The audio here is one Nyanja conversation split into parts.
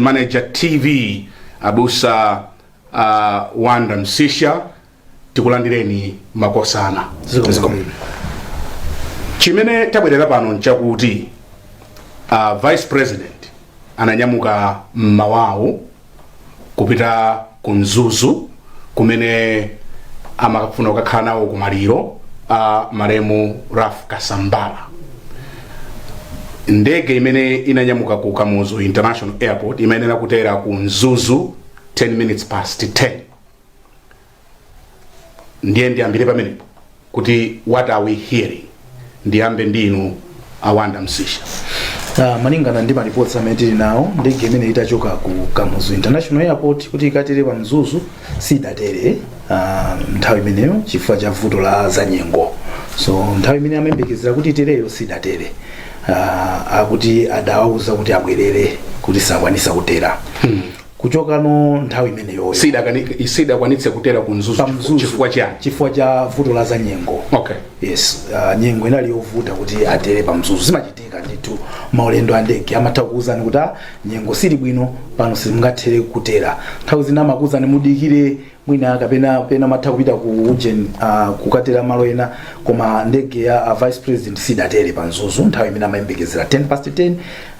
Manager TV abusa Wanda Msisha tikulandireni makosana chimene tabwerera pano nchakuti vice president ananyamuka mmawawu kupita ku mzuzu kumene amakafuna kukakhala nawo kumaliro a malemu raf kasambala ndege imene inanyamuka ku kamuzu international airport imayenera kutera ku mzuzu 10 minutes past 10 ndiye ndiyambire pamenepo kuti what are we hearing ndiyambe ndi inu awanda msisha Ah, malingana ndi reports amene tili nawo ndege imene itachoka ku kamuzu international airport kuti ikatere pa mzuzu sidatere ah, nthawi imeneyo chifukwa cha vuto la zanyengo so nthawi imene amayembekezera kuti itereyo sidatere ah, akuti adawauza kuti abwerere kuti sakwanisa kutera kuchoka nthawi imeneyoyo Sidakani- sidakwanitse kutera ku mzuzu chifukwa cha vuto la za nyengo okay yes uh, nyengo inali yovuta kuti atere pa mzuzu zimachitika ndithu maulendo a ndege amatha kukuwuzani kuti "Ah, nyengo sili bwino pano simungathere kutera nthawi zina amakuwuzani mudikire mwina kapena amatha kupita ku ujeni uh, kukatera malo ena koma ndege ya uh, vice president sidatere pa mzuzu nthawi imene amayembekezera 10 past 10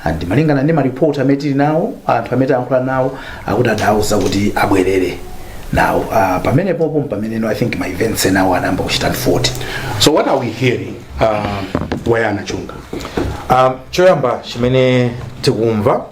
and malingana ndi maripoti amene tili nawo anthu amene tayankhula nawo akuti adauza kuti abwerere now uh, pamene popo mpameneno i think ma events enawo anayamba kuchita unfold so what are we hearing uh, a Yona Chunga um, choyamba chimene tikumva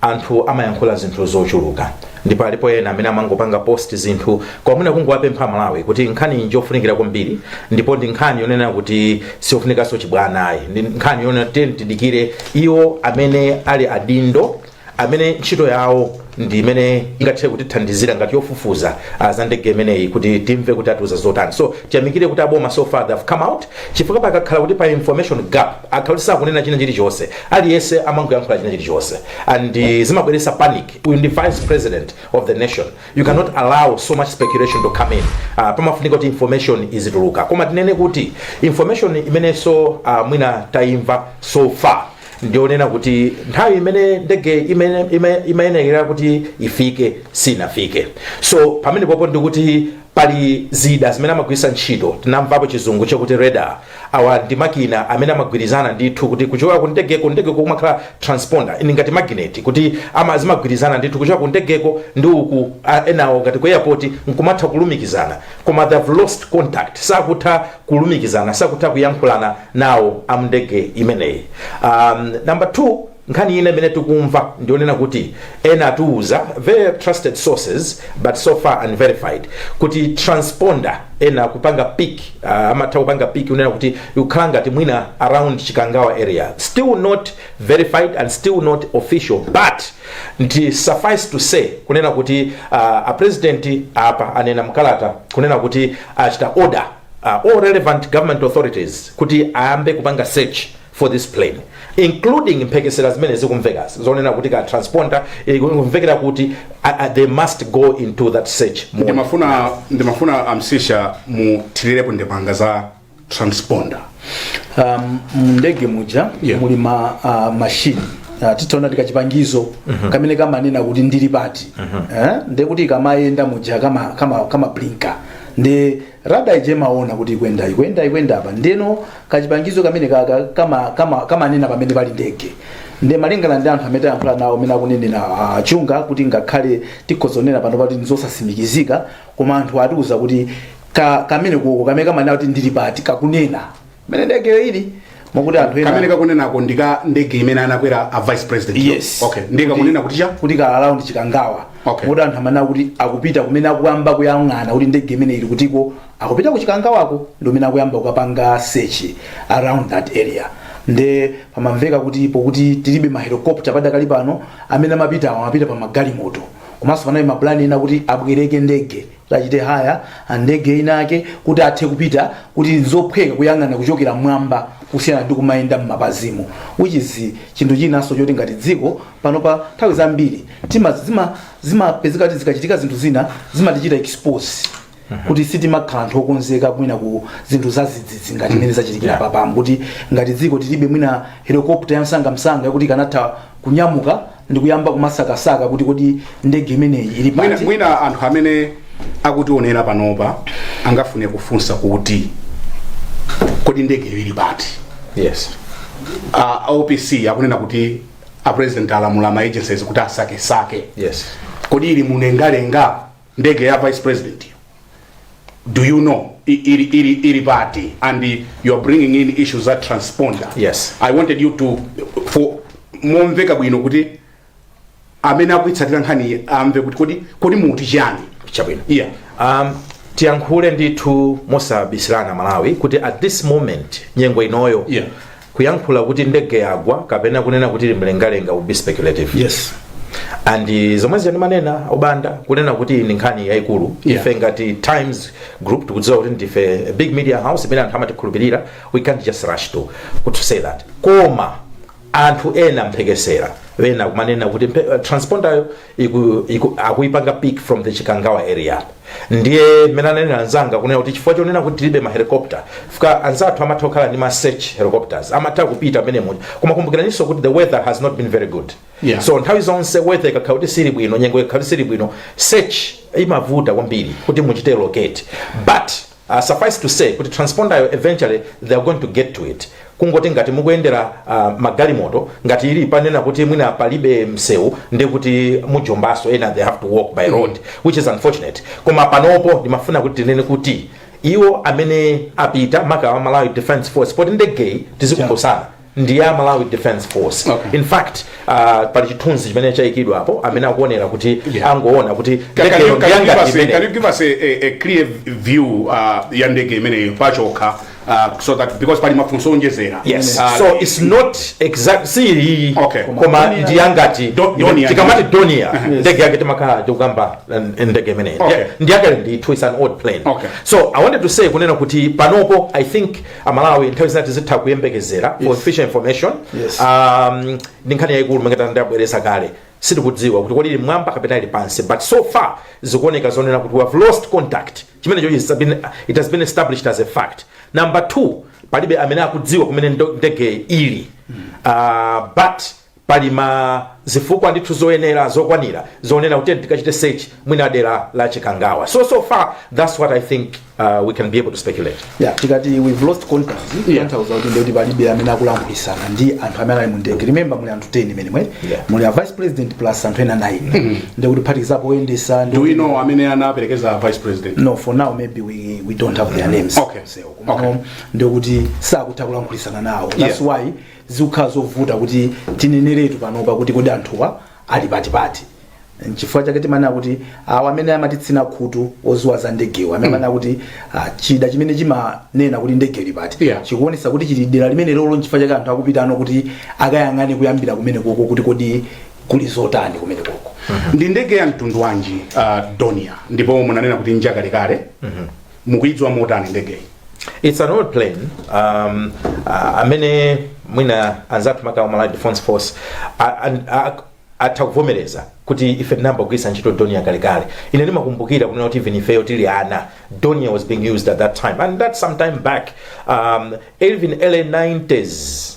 Anthu amayankhula zinthu zochuluka ndipo alipo ena amene amangopanga post zinthu koma mwina kungowapempha Amalawi kuti nkhani njofunikira kwambiri ndipo ndi nkhani yonena kuti siyofunikanso chibwana ayi, ndi nkhani yonena tidikire iwo amene ali adindo amene ntchito yawo ndi imene ingathe kutithandizira ngati yofufuza za ndege imeneyi kuti timve kuti atiuza zotani. So tiyamikire kuti aboma so far they have come out chifukwa pakakhala kuti pali information gap akhala kuti sakunena china chilichonse Aliyese amangoyankhula china chilichonse and zimabweresa panic uyu ndi vice president of the nation you cannot allow so much speculation to come in pamafunika kuti information izituluka koma tinene kuti information imeneso mwina taimva so far ndiyonena kuti nthawi imene ndege imayenekera kuti ifike sinafike so pamene popo ndikuti pali zida zimene amagwirisa ntchito tinamvapo chizungu chakuti radar awa ndi makina amene amagwirizana ndithu kuti kuchoka ku ndegeko ndegeko kumakhala transponder ndi ngati magnet kuti zimagwirizana ndithu kuchoka ku ndegeko ndi uku a- enawo ngati ku airport nkumatha kulumikizana koma they have lost contact sakutha kulumikizana sakutha kuyankhulana nawo amndege imeneyi um, number two Nkhani ina imene tikumva ndi yonena kuti ena atiuza, very trusted sources but so far unverified, kuti transponder ena akupanga pick, uh, amatha kupanga pick kunena kuti ikukhala ngati mwina around Chikangawa area. Still not verified and still not official but ndi suffice to say kunena kuti uh, a president apa anena mkalata kunena kuti achita order uh, all relevant government authorities kuti ayambe kupanga search for this plane including mphekesera zimene zikumvekazi zonena kuti ka transponder ikumvekera kuti uh, uh, they must go into that search mode. ndimafuna ndimafuna amsisha muthirirepo ndemanga za transponder um, mndege muja Yeah. muli ma uh, mashini uh, titaona tikachipangizo kamene kamanena kuti ili pati eh? nde kuti kamayenda muja kama kama kama blinka nde Radar ija imaona kuti ikuyenda ikuyenda ikuyenda apa ndeno kachipangizo kamene kaka kama kama kamanena pamene pali ndege nde malingana ndi anthu amene tayankhula nawo amene akunenera ah, chunga kuti ngakhale tikhoza kunena pano pati ndizosatsimikizika koma anthu atiuza kuti ka, kamene koko kamene kamanena kuti ili pati kakunena mene ndegeyo ili mokuti anthu ena kamene kakunenako ndi ka ndege imene anakwera a vice president yo. yes okay ndiye kakunena kuti cha kuti ka around chikangawa Okay. mokuti anthu amene akuti akupita kumene akuyamba kuyang'ana kuti ndege imeneyi ili kutiko akupita ku chikangawako ndi kumene akuyamba kukapanga search around that area nde pamamveka kuti pokuti tilibe mahelikopta padakali pano amene amapita amapita pa magalimoto komanso panali mapulani ena kuti abwereke ndege achite haya ndege inake kuti athe kupita kuti nzophweka kuyang'ana kuchokera mwamba kusiyana ndi kumayenda m'mapazimo which is chinthu chinanso choti ngati dziko pano pa nthawi zambiri tima zima zimapezeka kuti zikachitika zinthu zina zimatichita expose kuti sitimakhala anthu okonzeka mwina ku zinthu zazidzidzi ngati imene zachitikira apa mokuti ngati dziko tilibe mwina helikopta yamsangamsanga yakuti ikanatha kunyamuka ndikuyamba kumasakasaka kuti kodi ndege imeneyi ili mwina, pati mwina anthu amene akutionera panopa angafune kufunsa kuti kodi ndegeyo ili pati yes a opc akunena kuti a president alamula ma agencies kuti asakesake yes kodi ili mulengalenga ndege ya vice president yo do you know i- ili, ili, ili pati and you are bringing in issues za transponder Yes. i wanted you to fotokoza momveka bwino kuti amene akuitsatira nkhaniyi amve kuti kodi kodi mukuti chani chabwino yeah um, tiyankhule ndithu mosabisirana aMalawi kuti at this moment nyengo inoyo Yeah. Kuyankhula kuti ndege yagwa kapena kunena kuti ili mlengalenga would be speculative. yes and eh, zomwe zija ndimanena o Banda kunena kuti ndi nkhani yayikulu Yeah. ife ngati times group tikudziwa kuti ndife a big media house imene anthu amatikhulupirira we can't just rush to to say that koma anthu ena mphekesera ena kumanena kuti mphe- eh, transpondayo iku, iku, akuipanga pick from the chikangawa area ndiye mmene ananena anzanga kunena kuti chifukwa chonena kuti tilibe mahelicopter chifukwa anzathu amatha kukhala ndi ma search helicopters amatha kupita m'menemo muja koma kumbukiraninso kuti the weather has not been very good Yeah. so nthawi zonse weather ikakhala kuti sili bwino nyengo ikakhala kuti sili bwino search imavuta kwambiri kuti muchite locate but Uh, suffice to say kuti transponderyo eventually they are going to get to it kungoti ngati mukuyendera uh, magalimoto ngati ili panena kuti mwina palibe msewu ndi kuti mujombaso ena they have to walk by road which is unfortunate koma panopo ndimafuna kuti tinene kuti iwo amene apita makaka awa a malawi defense force poti ndegeyi tizikumbusana ndi ya malawi defense force Okay. in fact uh, pali chithunzi chimene chayikidwa apo amene akuonera kuti Yeah. angoona kuti Can, can, you, ndege can, you give yangati us a, can imene you give us a, a, a clear view uh, ya ndege imeneyo pachokha uh, so that because pali mafunso owonjezera yes Uh, so it's not exact si iyi Okay. koma ndi yangati iyi Do- Donia. tikamati donia ndege yake timakhala tikukamba uh, ndege imeneyi Okay. ndi yakale ndithu is an old plane Okay. so i wanted to say kunena kuti panopo i think amalawi nthawi zina tizitha kuyembekezera for official information Yes. um, ndi nkhani yayikulu monga ndabwereza kale sitikudziwa kuti kodi ili mwamba kapena ili pansi but so far zikuoneka zonena kuti we have lost contact chimenecho is been- it has been established as a fact number two palibe amene akudziwa kumene ndo- ndege ili uh, but Pali zifukwa ndithu zoyenera zokwanira zonena kuti tiyeni tikachite search mwina dera la Chikangawa. So, so far that's what I think uh, we can be able to speculate. Yeah, tikati we've lost contact kutanthauza kuti ndikuti palibe amene akulankhulitsana ndi anthu amene ali mu ndege remember muli anthu 10 m'menemo Yeah. muli a vice president plus anthu ena 9 ndikuti phatikizapo oyendetsa ndi- do we know amene anaperekeza vice president no for now maybe we, we don't have their names Okay. So, Okay. koma ndikuti sakutha kulankhulitsana nawo that's Yeah. why zikukhala zovuta kuti tineneretu panopa kuti kodi anthuwa ali patipati nchifukwa chake timanena kuti awo amene amatitsina khutu odziwa za ndegewo amene amanena kuti ah, chida chimene chimanena kuti ndege ili pati Yeah. chikuonetsa kuti chili dera limenelolo nchifukwa chake anthu akupita kuti akayang'ane kuyambira kumenekoko kuti kodi kuli zotani kumenekoko ndi ndege ya mtundu wanji uh, donia ndipo munanena kuti njakalekale mukuidziwa motani ndegeyi it's an old plane um, uh, amene mwina anzathu maka a malawi defense force a- an- a- atha kuvomereza kuti ife tinayamba kugwiritsa ntchito dornier kalekale ine ndimakumbukira kunena kuti even ifeyo tili ana dornier was being used at that time and that's some time back um, even early 90s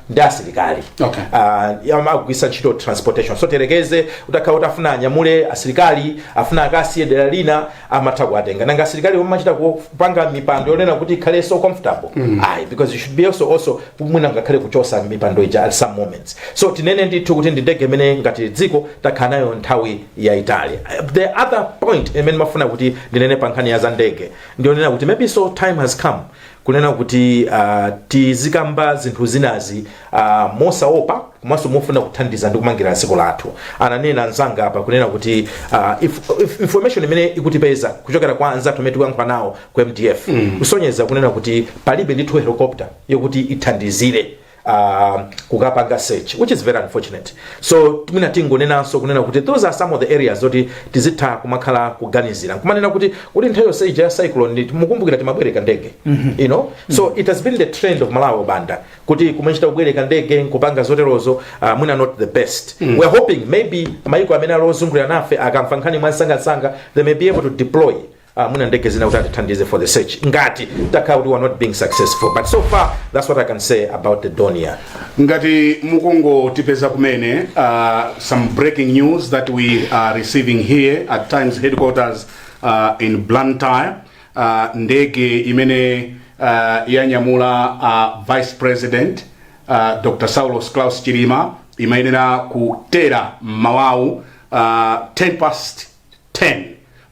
ndi ya asilikali Okay. Ah, ya amagwiritsa ntchito transportation so tiyerekeze utakhala kuti afuna anyamule asilikali afuna akasiye dera lina amatha kuwatenga nanga asilikali sumachita kupanga mipando yonena kuti ikhale so comfortable ayi because you should be also also mwina ngakhale kuchotsa mipando ija at some moments so tinene ndithu kuti ndi ndege imene ngati dziko takhala nayo nthawi yayitali Ah, the other point imene ndimafuna kuti ndinene pa nkhani ya za ndege ndiyonena kuti maybe so time has come kunena kuti uh, tizikamba zinthu zinazi uh, mosaopa komanso mofuna kuthandiza ndi kumangira dziko lathu ananena anzanga apa kunena kuti uh, if, if information imene ikutipeza kuchokera kwa anzathu amene tikuyankhula nawo ku mdf mm. kusonyeza kunena kuti palibe ndithu helicopter yokuti ithandizire uh, kukapanga search which is very unfortunate so mwina tingonenanso kunena kuti those are some of the areas zoti tizitha kumakhala kuganizira nkumanena kuti kuti nthawi yonse ija ya cyclone ngati mukumbukira timabwereka ndege you know so it has been the trend of malawi over and over kuti kumachita kubwereka ndege nkupanga zoterozo uh, mwina not the best we are hoping maybe mayiko amene ali ozungulira nafe akamva nkhani mwamsangamsanga they may be able to deploy Ah, mwina ndege zina kuti atithandize for the search ngati takhala kuti we are not being successful but so far that's what i can say about the donia ngati mukungotipeza kumene uh, some breaking news that we are receiving here at times headquarters uh, in blantyre uh, ndege imene uh, yanyamula uh, vice president uh, dr saulos claus chilima imayenera kutera mmawawu uh, 10 past 10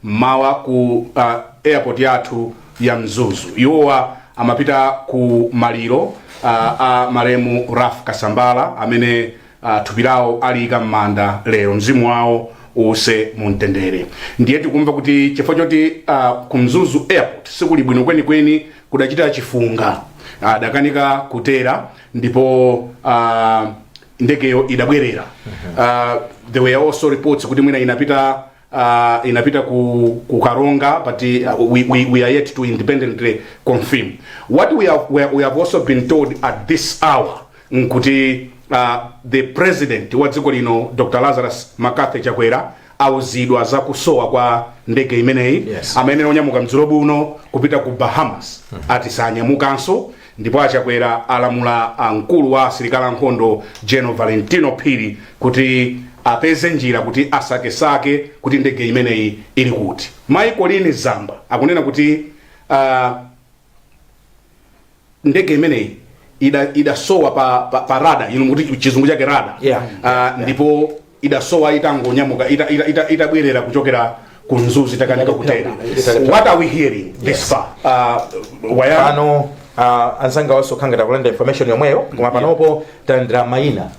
mmawa ku uh, airport yathu ya Mzuzu. Iwowa amapita ku maliro uh, a malemu Ralph Kasambala amene uh, thupi lawo aliyika m'manda lero. Mzimu wawo uuse mumtendere. Ndiye tikumva kuti chifukwa choti uh, ku Mzuzu airport sikuli bwino kwenikweni kudachita chifunga adakanika kutera ndipo uh, ndegeyo idabwerera uh, there were also reports kuti mwina inapita uh, inapita ku, ku karonga but uh, we, we, we are yet to independently confirm what we have, we, we have also been told at this hour nkuti uh, the president wa dziko lino dr lazarus makathi chakwera auzidwa za kusowa kwa ndege imeneyi Yes. amayenera kunyamuka madzulo ano kupita ku bahamas ati sanyamukanso ndipo a chakwera alamula mkulu wa asilikali ankhondo general valentino phiri kuti apeze njira kuti asakesake kuti ndege imeneyi ili kuti mayi colleen zamba akunena kuti ah, ndege imeneyi ida- idasowa pa, pa, pa radar inu mukuti chizungu chake radar Yeah. Ah, ndipo idasowa itangonyamuka ita- ita- ita- itabwerera kuchokera ku mzuzu itakanika kutera Italephera. what are we hearing this far Ah, brian pano uh, anzanga wa sukhanga tikulandira information yomweyo koma panopo talandira mayina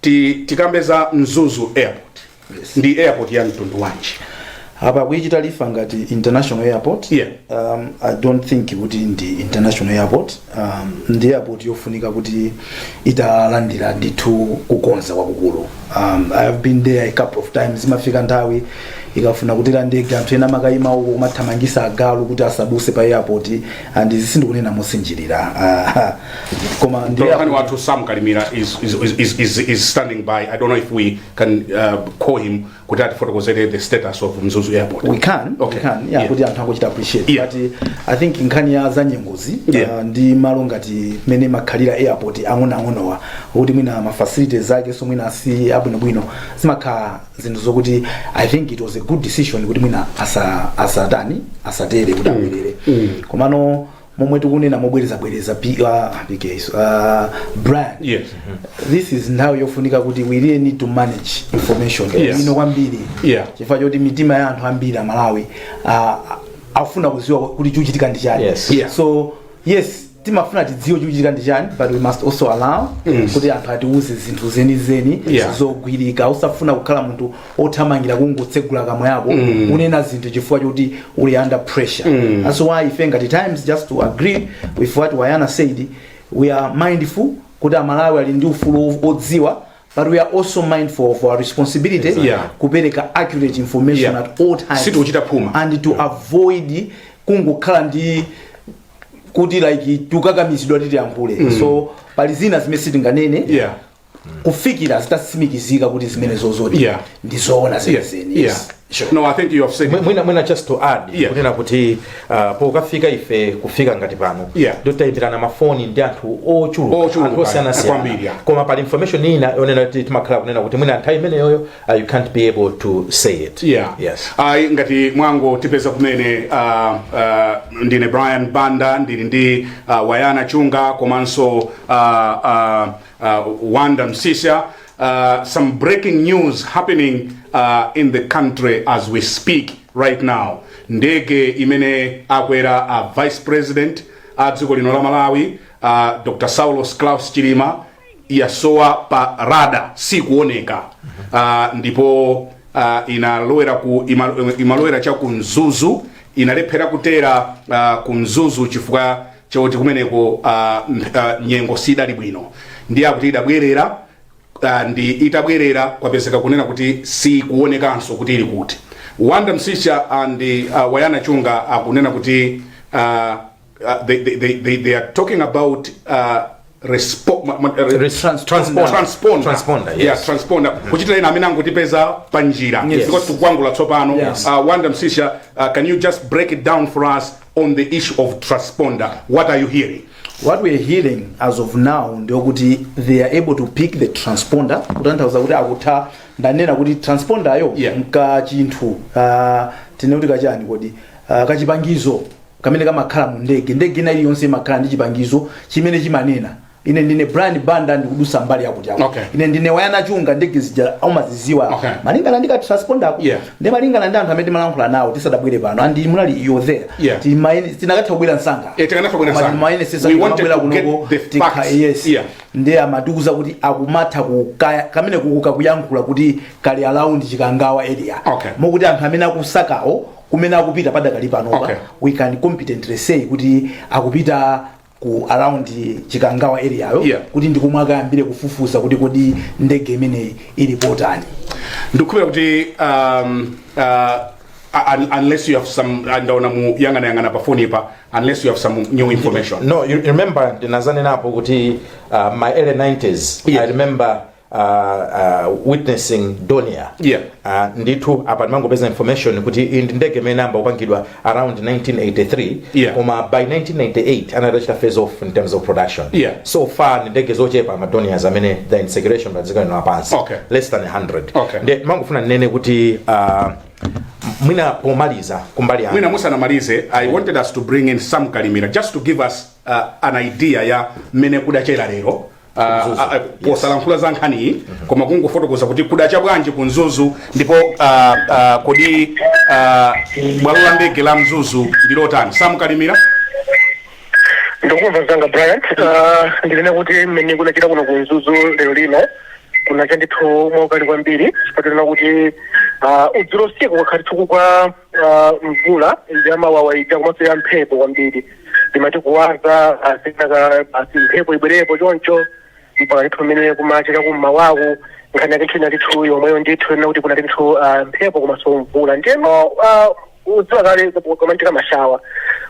Ti, tikambe za mzuzu airport yes. ndi airport ya mtundu wanji apa akuichita refer ngati international airport Yeah. um, i don't think kuti ndi international airport um, ndi airport yofunika kuti italandira ndithu kukonza kwakukulu um, i have been there a couple of times zimafika nthawi ikafuna kutera ndege anthu ena amakayima uko kumathamangitsa agalu kuti asadutse pa airport and izi sindikunena mosinjirira uh, koma ndiye Mtolankhani wathu Sam Kalimira is, is, is, is, is, is standing by. I don't know if we can uh, call him kuti atifotokozere the status of Mzuzu Airport. we can Okay. we can yeah, Yeah. kuti anthu akuchita appreciate Yeah. but uh, i think nkhani ya zanyengozi Yeah. uh, ndi malo ngati mmene makhalira airport ang'onoang'onowa kuti mwina ma facilities zake so mwina si abwinobwino zimakhala zinthu zokuti i think it was a good decision kuti mwina asa- asatani asatere kuti abwerere komano momwe tikunena mobwerezabwereza P- ah, PK, ah, Brian Yes. this is nthawi yofunika kuti we really need to manage information Yes. ino kwambiri Yeah. chifukwa choti mitima ya anthu ambiri amalawi ah, afuna kuziwa kuti chikuchitika ndi chani Yes. Yeah. so yes timafuna tidziwe chikuchitika ndi chani but we must also allow kuti anthu atiuze zinthu zenizeni Yeah. zogwirika usafuna kukhala munthu othamangira kungotsegula kamwa yako mm. unena zinthu chifukwa choti uli under pressure mm. that's why ife ngati Times just to agree with what wayana said we are mindful kuti amalawi ali ndi ufulu odziwa but we are also mindful of our responsibility exactly. yeah. kupereka accurate information yeah. at all times sitikuchita phuma and to yeah. avoid kungokhala ndi kuti like tukakamizidwa titiyankhule mm. so pali zina zimene sitinganene yeah kufikira zitatsimikizika kuti zimenezozodi Yeah. ndi zoona Yeah, zenizeni yeah. Sure. No, I think you have said Mwi- it. mwina mwina just to add Yeah. kunena kuti uh, pokafika ife kufika ngati pano Yeah. ndotaimbirana mafoni ndi anthu ochuluka Ochuluka, anthu osiyanasiyana kwambiri, yeah. koma pali information ina yonena kuti timakhala kunena kuti mwina nthawi imeneyoyo uh, you can't be able to say it yeah. yes ayi ngati mwangotipeza kumene uh, uh, ndine brian banda ndili ndi uh, wayana chunga komanso uh, uh, uh, Wonder Msiska, uh, some breaking news happening uh, in the country as we speak right now. Ndege imene akwera a uh, vice president a dziko lino la Malawi uh, Dr. Saulos Klaus Chilima yasowa pa radar sikuoneka uh, ndipo uh, inalowera ku ima, imalowera cha ku Mzuzu inalephera kutera uh, ku Mzuzu chifukwa choti kumeneko uh, uh, nyengo sidali bwino ndiye akuti idabwerera uh, ndi itabwerera kwapezeka kunena kuti sikuonekanso kuti ili kuti wonder msiska and uh, wayana chunga akunena kuti uh, uh, they, they, they, they, they are talking about uh, respo- ma- ma- re- Res- transponder. transponder. Transponder, yes. Yeah, transponder. kuchitira ena amene angotipeza pa njira Yes. because tikukwangula tsopano Yes. uh, wanda msisha uh, can you just break it down for us on the issue of transponder what are you hearing what we're hearing as of now ndiokuti they are able to pick the transponder kutanthauza kuti akutha ndanena kuti transponderyo Yeah. mkachinthu uh, tinekuti kachani kodi uh, kachipangizo kamene kamakhala mu ndege ndege ina iliyonse imakhala ndi chipangizo chimene chimanena ine ndine brian banda ndikudusa mbali yakuti yakuti. Okay. ine ndine wayana chunga ndege zija umaziziwa Okay. malingana ndi katransponder ako Yeah. ndi malingana ndi anthu amene timalankhula nawo tisadabwere pano and munali iyo there Yeah. Timaone- tinakatha kubwera msanga Eh, tikanatha kubwera Koma msanga. timaonetsetsa We wanted tikamabwera to get kunoko, the tikha- facts. yes Yeah. ndi amatiuza kuti akumatha kukaya kamenekoko kakuyankhula kuti kali around chikangawa area Okay. mokuti anthu amene akusakawo kumene akupita padakali panopa Okay. we can competently say kuti akupita ku around chikangawa area yo Yeah. kuti ndikomwe akayambire kufufuza kuti kodi ndege imeneyi ili potani ndikukhulupira kuti um, uh, un- unless you have some ndaona mukuyang'ana yang'ana pa phone pa unless you have some new information no you remember ndinadzanenapo kuti uh, my early 90s Yes. i remember uh, witnessing Dornier Yeah. uh, ndithu apa ndimangopeza information kuti iyi ndi ndege imene inayamba kupangidwa around 1983 Yeah. koma by 1998 anali atachita phase off in terms of production Yeah. so far ndi ndege zochepa ma Dorniers amene they're in circulation padziko lino lapansi Okay. less than 100 Okay. nde ndimangofuna ndinene kuti uh, mwina pomaliza kumbali yanga mwina musanamalize i wanted us to bring in sam kalimira just to give us uh, an idea ya mmene kudachera lero Ah, ah, posalankhula za nkhaniyi koma kungofotokoza kuti kudacha bwanji ku mzuzu ndipo ah, ah, kodi ah, bwalo la ndege la mzuzu ndilotani sam kalimira ndikukumva mnzanga brian Ah, ndinene kuti mmene kunachera kuno ku mzuzu lero lino kunacha ndithu mwaukali kwambiri chifukwa tinene kuti ah, dzulo usiku kwakhala ndithu kukugwa kwa mvula yamawawa ija komanso ya mphepo kwambiri timati kuwaza asinaka basi mphepo ibwerepo choncho mpaka ndithu pamene kumachera kummawaku nkhani yake ndithu inali ndithu yomweyo ndithu kunena kuti kunali ndithu ah, mphepo komanso mvula ndiyeno ah, ukudziwa kale kukamachitika mashawa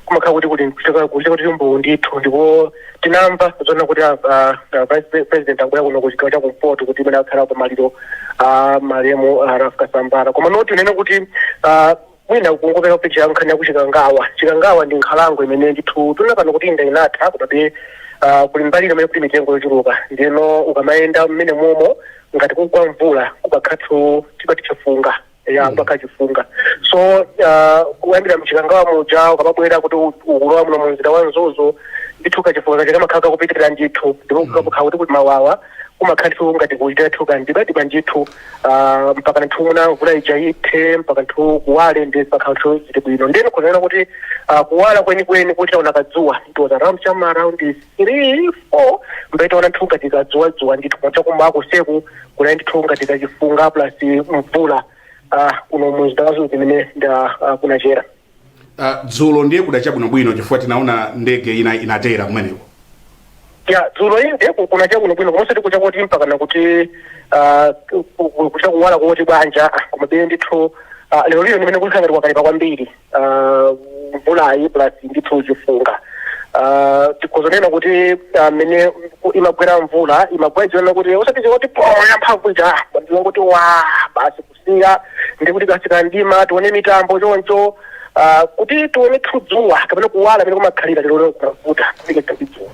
kumakhala kuti kuti kuchita kuti mbuwu ndithu ndipo tinamva zonena kuti ah, ah, ah, vice pre- president akubwera kuno kuchigawo cha kumpoto kuti imene akhala pa maliro a malemu ah, ralph kasambara koma ndoti ndinene kuti ah, mwina kungopereka picture ya nkhani ya kuchikangawa chikangawa ndi nkhalango imene ndithu tinene pano kuti inde inatha komabe ah, kuli mbali imene kuli mitengo yochuluka ndiyeno ukamayenda mmenemomo ngati kukugwa mvula kumakhala ndithu chipati chifunga ya mpaka chifunga so uh, kuyambira mchikangawa muja ukamabwera kuti u- ukulowa muno mu mzinda wa mzuzu ndithu kachifunga kaja kamakhala kakupitirira ndithu ndipo kukakhala kuti kuli mawawa kumakhala ndithu ngati kuchita ndithu kamdimamdima ndithu uh, mpaka ndithu mwina mvula ija ithe mpaka ndithu kuwale ndi mpaka ndithu zili bwino ndeno kunena kuti uh, kuwala kwenikweni kuchita kuona kadzuwa it was around cha m'ma around 3 4 mpamene tinaona ndithu ngati kadzuwadzuwa ndithu koma chakummawa konseku kunali ndithu ngati kachifunga plus mvula ah, kuno mumzinda wa Mzuzu imene nda ah, kunachera Uh, dzulo ndiye kudacha bwinobwino chifukwa tinaona ndege ina inatera kumeneko ya dzulo inde ku- kunacha bwinobwino komanso tikucha kuti mpaka nakuti ah, ku- ku- kuchita kuwala kuti bwanja ah, komabe ndithu ah, lero lino ndi mmene kunakhala ngati kwakalipa kwambiri ah, mvulayi plus ndithu chifunga Ah, tikhoza kunena kuti mmene ku- imagwera mvula imagwera zonena kuti osati choti pwa yamphamvu ija ndilongoti wa basi kusiya ndi kuti katsika mdima tione mitambo choncho ah, kuti tione dzuwa kapena kuwala mmene kumakhalira lero kumavuta kufikira tidzuwa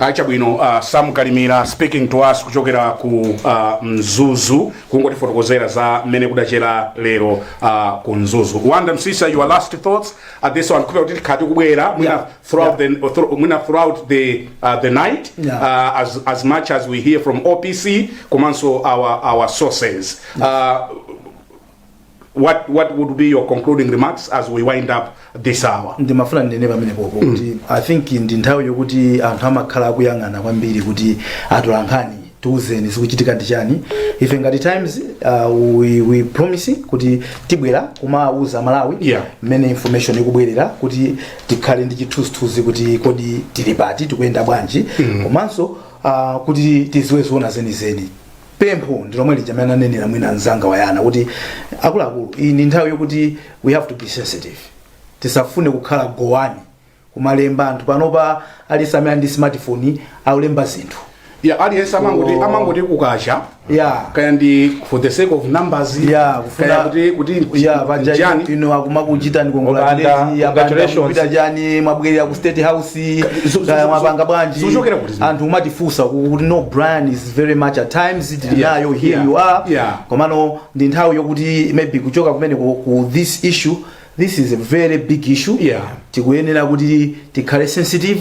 Ah, chabwino uh, Sam Kalimira speaking to us kuchokera ku uh, Mzuzu kungotifotokozera za mmene kudachera lero uh, ku Mzuzu. Wonder Msiska your last thoughts at this one chifukwa kuti tikhala tikubwera mwina Yeah. throughout the thro- mwina throughout the uh, the night Yeah. uh, as as much as we hear from OPC komanso our our sources. Uh, what what would be your concluding remarks as we wind up this hour ndimafuna ndinene pamenepopo kuti i think ndi nthawi yokuti anthu amakhala akuyang'ana kwambiri kuti atolankhani tiuzeni zikuchitika ndi chani ife ngati times uh, we, we promise kuti tibwera kumauza amalawi Yeah. mmene information ikubwerera kuti tikhale ndi chithunzithunzi kuti kodi tili pati tikuyenda bwanji komanso uh, kuti tidziwe zoona zenizeni pempho ndi lomwe lija amene ananenera mwina mzanga wayana kuti akuluakulu iyi ndi nthawi yokuti we have to be sensitive tisafune kukhala number one kumalemba anthu panopa aliyense amene ali ndi smartphone akulemba zinthu ya aliyense amangoti So- amangoti kukacha Yeah. kaya ndi for the sake of numbers Yeah, kufuna- kaya kuti kuti ya paja chani ino akumakuchitani Opanda, congratulations. kongolapita chani mwabwerera ku state house Zu- zu- kaya zu- mwapanga bwanji zuchokera kuti zimene? anthu akumatifunsa kuti no brian is very much at times tili Yeah, nayo here yeah, you are yeah. komano ndi nthawi yokuti maybe kuchoka kumene ku, ku this issue this is a very big issue Yeah. tikuyenera kuti tikhale sensitive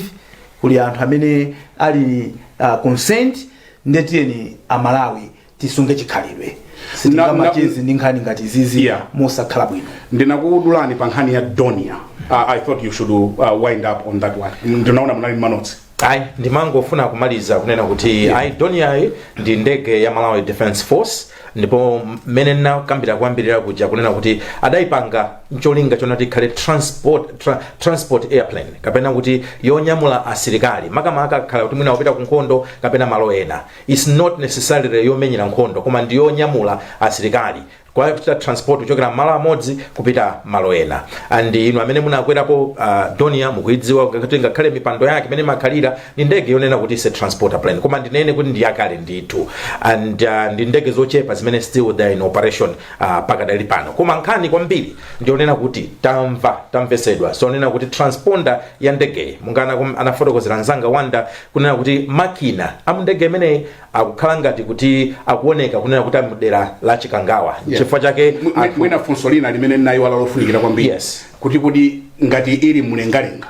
kuli anthu amene ali uh, concerned nde tiyeni amalawi tisunge chikhalidwe Na- sitingamacheze ndi nkhani ngati izizi Yeah. mosakhala bwino ndinakudulani pa nkhani ya dornier uh, i thought you should uh, wind up on that one ndinaona munali manotsi ayi ndimangofuna kumaliza kunena kuti yeah. ayi dornier-yi ndi ndege ya malawi defense force ndipo mmene ndinakambira kuyambirira kuja kunena kuti adayipanga ncholinga chonena kuti ikhale transport, tra, transport airplane kapena kuti yonyamula asilikali makamaka akakhala kuti mwina kupita ku nkhondo kapena malo ena its not necessarily yomenyera nkhondo koma ndi yonyamula asilikali kuchita transport kuchokera malo amodzi kupita malo ena and inu amene munakwerapo uh, dornier mukuidziwa kuti ngakhale mipando yake mmene imakhalira ndi ndege yonena kuti it's a transporter plane koma ndinene kuti ndi yakale ndithu and uh, ndi ndege zochepa zimene still they are in operation uh, pakadali pano koma nkhani kwambiri ndiyonena kuti tamva tamvetsedwa zonena kuti transponder ya ndegeyi monga anafotokozera nzanga wonder kunena kuti makina a mu ndege imeneyi akukhala ngati kuti akuoneka kunena kuti ali mdera la chikangawa nchifukwa chake Mwi- mwi- anthu- mwina funso lina limene nayiwala lofunikira kwambiri Yes. kuti kuti ngati ili mlengalenga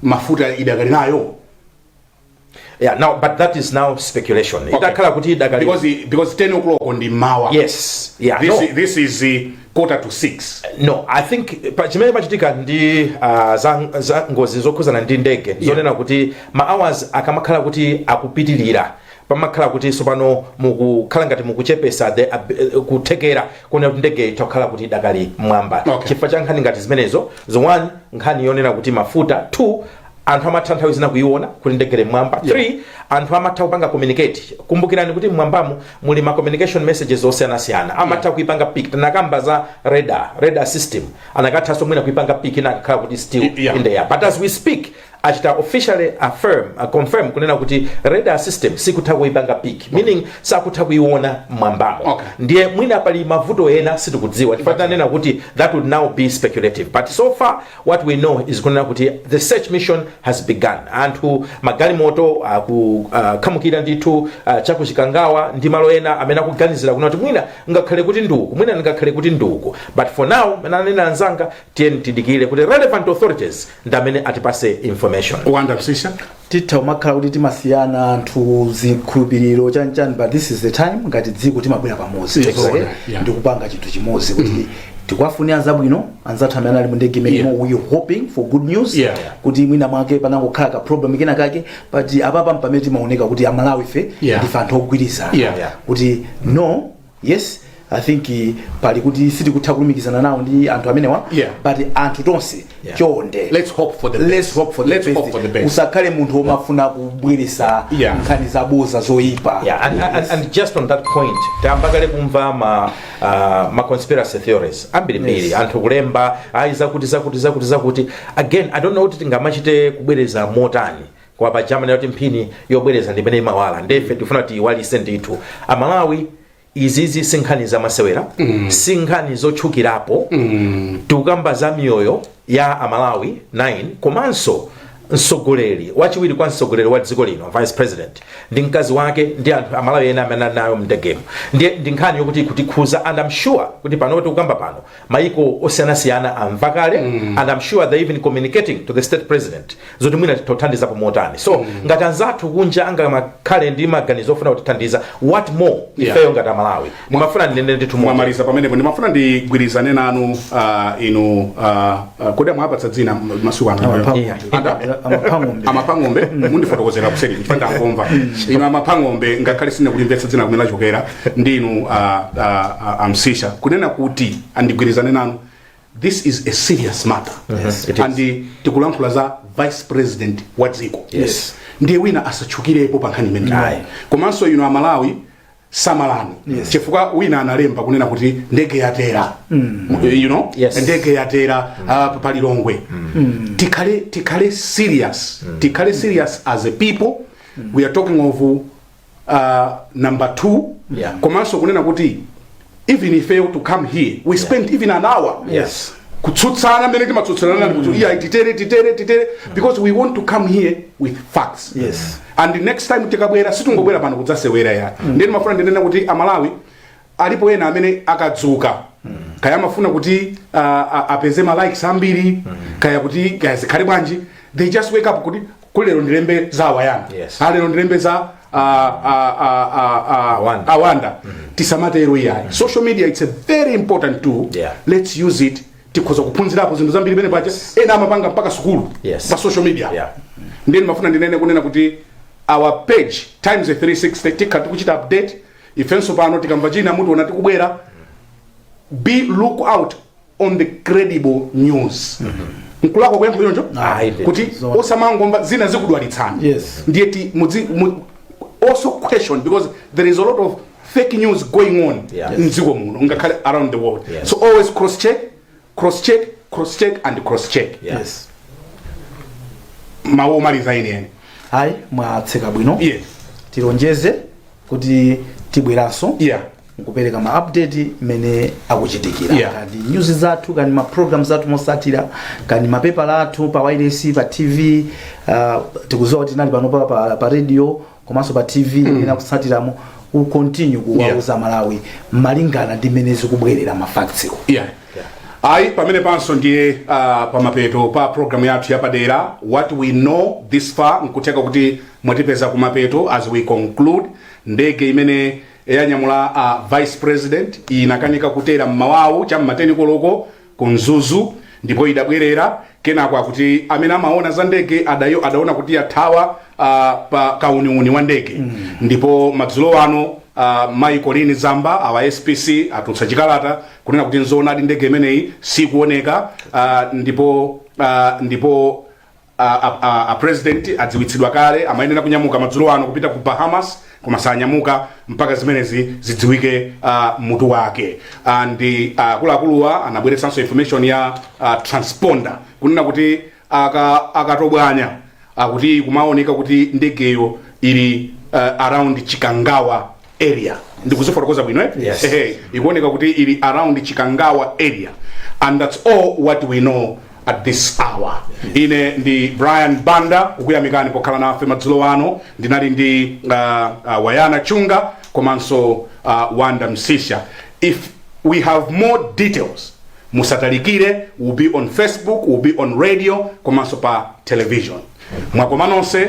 mafuta idakali nawo yeah, now, but that is now speculation itakhala kuti idakali because because 10 o'clock m'mawa yes yeah, this, no. this is uh, quarter to 6 no i think chimene chimachitika ndi uh, za, za ngozi zokhuzana ndi ndege yeah. zonena kuti ma hours akamakhala kuti akupitilira pamakhala kuti sopano mukukhala ngati mukuchepesa the ab- kuthekera konena kuti ndege itha kukhala kuti idakali mwamba Okay. chifukwa cha nkhani ngati zimenezo the one nkhani yonena kuti mafuta two anthu amatha nthawi zina kuiona kuti ndege ili mmwamba Yeah. 3 anthu amatha kupanga communicate kumbukirani kuti mmwambamu muli ma communication messages osiyanasiyana amatha kuipanga pick tinakamba za radar radar system anakathanso mwina kuipanga pick inakakhala kuti still Y- yeah. in the air but as we speak achita officially affirm uh, confirm kunena kuti radar system sikutha kuipanga pick meaning sakutha kuiona mmwambamo Okay. ndiye mwina pali mavuto ena sitikudziwa chifukwa tinanena kuti that would now be speculative but so far What we know is kunena kuti the search mission has begun. Anthu magalimoto akukhamukira uh, ndithu uh, chakuchikangawa ndi malo ena amene akuganizira kunena kuti mwina ingakhale kuti nduku mwina ingakhale kuti nduku but for now mene anena anzanga tiyeni tidikire kuti relevant authorities ndi amene atipase information. Wonder Msiska. titha kumakhala kuti timasiyana anthu zikhulupiriro chanichani but this is the time ngati dziko timabwera pamodzi Yes, Zoona, yeah. yeah. ndikupanga chinthu chimodzi kuti tikuwafunira zabwino anzathu amene ali mu ndege imenemo Yeah. we are hoping for good news Yeah. kuti mwina mwake panangokhala ka problem kena kake but apapa mpamene timaoneka kuti amalawi fe Yeah. ndife anthu ogwirizana Yeah. Yeah. kuti no yes i think eh, pali kuti sitikutha kulumikizana nawo ndi anthu amenewa Yeah. but anthu tonse Yeah. chonde Let's hope for the best. Let's hope for the Let's best. hope for the best. usakhale munthu womafuna kubweresa Yeah. nkhani zaboza zoyipa Yeah, and, and, Yes. and just on that point tambakale kumva ma, uh, ma conspiracy theories ambirimbiri Yes. anthu kulemba ayi zakuti zakuti zakuti zakuti again i don't know kuti tingamachite kubwereza motani koma paja amanena kuti mphini yobwereza ndimene imawala ndefe tifuna tiyiwalise ndithu amalawi izizi si nkhani zamasewera mm. si nkhani zotchukirapo mm. tikukamba za miyoyo ya amalawi 9 komanso mtsogoleri wachiwiri kwa mtsogoleri wa dziko lino vice president ndi mkazi wake ndi anthu amalawi ena amene ali nawo mndegemo ndi ndi nkhani yokuti ikutikhuza and I'm sure kuti pano tikukamba pano maiko osiyanasiyana amva kale and i'm sure they even communicating to the state president zoti mwina tithandizapo motani so ngati anzathu kunja angamakhale ndi maganizo ofuna kutithandiza what more Yeah. ifeyo ngati amalawi ndimafuna ndinene ndithu mwa- mwamaliza pamenepo ndimafuna ndigwirizane nanu ah, inu ah, ah, kodi amwapatsa dzina m- masiku ano Yeah. amapangombe amapangombe mundifotokozera kuseri chifukwa ndangomva ino amapangombe ngakhale sindikulimvetsa dzina kumene lachokera ndi inu uh, uh, uh, amsisha kunena kuti ndigwirizane nanu this is a serious matter Yes, it is. and tikulankhula za vice president wa dziko Yes. ndiye wina asatchukirepo pa nkhani imeneyi Aye. komanso inu amalawi samalani chifukwa wina analemba kunena kuti ndege yatera you know Yes. ndege yatera uh, pa lilongwe tikhale tikhale serious tikhale serious as a people we are talking of uh, number two Yeah. komanso kunena kuti even ife to to come here we spent even an hour Yes. kutsutsana mmene timatsutsanana mm. kuti iya titere titere titere because we want to come here with facts Yes. and next time tikabwera sitingobwera pano kudzasewera ya mm. ndiye ndimafuna ndinene kuti amalawi alipo ena amene akadzuka kaya amafuna kuti uh, a- apeze ma likes ambiri kaya kuti kaya zikhale bwanji they just wake up kuti lero ndilembe za awayana Yes. Ah, lero ndilembe za ah, ah, ah, ah, ah, Awanda. awanda tisamatero iyayi social media it's a very important tool Yeah. let's use it tikhoza kuphunzirapo zinthu zambiri pena paja ena amapanga mpaka sukulu Yes. pa social media Yeah. ndiye ndimafuna ndinene kunena kuti our page times 360 tikhala tikuchita update ifenso pano tikamva china mutiona tikubwera be look out on the credible news nkulakwa kuyankhula choncho Ayi, ndithu. kuti osamangomva zina zikudwalitsani Yes. ndiye ti mudzi mu- also question because there is a lot of fake news going on Yeah. mdziko muno ngakhale around the world Yes. so always cross check cross check cross check and cross check yeah. yes mawu omaliza eni eni ayi mwatseka bwino yes tilonjeze kuti tibweranso yeah nkupereka ma update mmene akuchitikira Yeah. kani news zathu kani ma programs athu mutsatire kani mapepala athu pa wireless pa tv uh, tikudziwa kuti tinali pano pa, pa, pa radio komanso pa tv ena kutsatiramo ku continue kuwauza amalawi malingana ndi mmene zikubwerera mafactsiwo yeah. ayi pamenepanso ndiye uh, pamapeto pa programu yathu yapadera what we know this far nkutheka kuti mwatipeza kumapeto as we conclude ndege imene yanyamula uh, vice president inakanika kutera mmawawu cha mmateni koloko ku Mzuzu ndipo idabwerera kenako akuti amene amaona za ndege adao adaona kuti yathawa ah, pa kauniuni wa ndege ndipo madzulo ano ah, mayi Colleen Zamba awa SPC atulutsa chikalata kunena kuti nzoonadi ndege imeneyi sikuoneka ah, ndipo ah, ndipo A, a, a, a president adziwitsidwa kale amayenera kunyamuka madzulo ano kupita ku Bahamas koma sanyamuka mpaka zimenezi zidziwike uh, mutu wake and uh, akuluakuluwa anabweretsanso information ya uh, transponder kunena kuti aka- akatobwanya akuti kumaoneka kuti ndegeyo ili uh, around Chikangawa area ndikuzifotokoza bwino eh? Yes. Ehe, ikuoneka kuti ili around Chikangawa area and that's all what we know at this hour ine ndi Brian Banda kukuyamikani pokhala nafe madzulo ano ndinali ndi uh, uh, Wanyana Chunga komanso uh, Wonder Msiska if we have more details musatalikire we'll be on Facebook we'll be on radio komanso pa television mwakoma nonse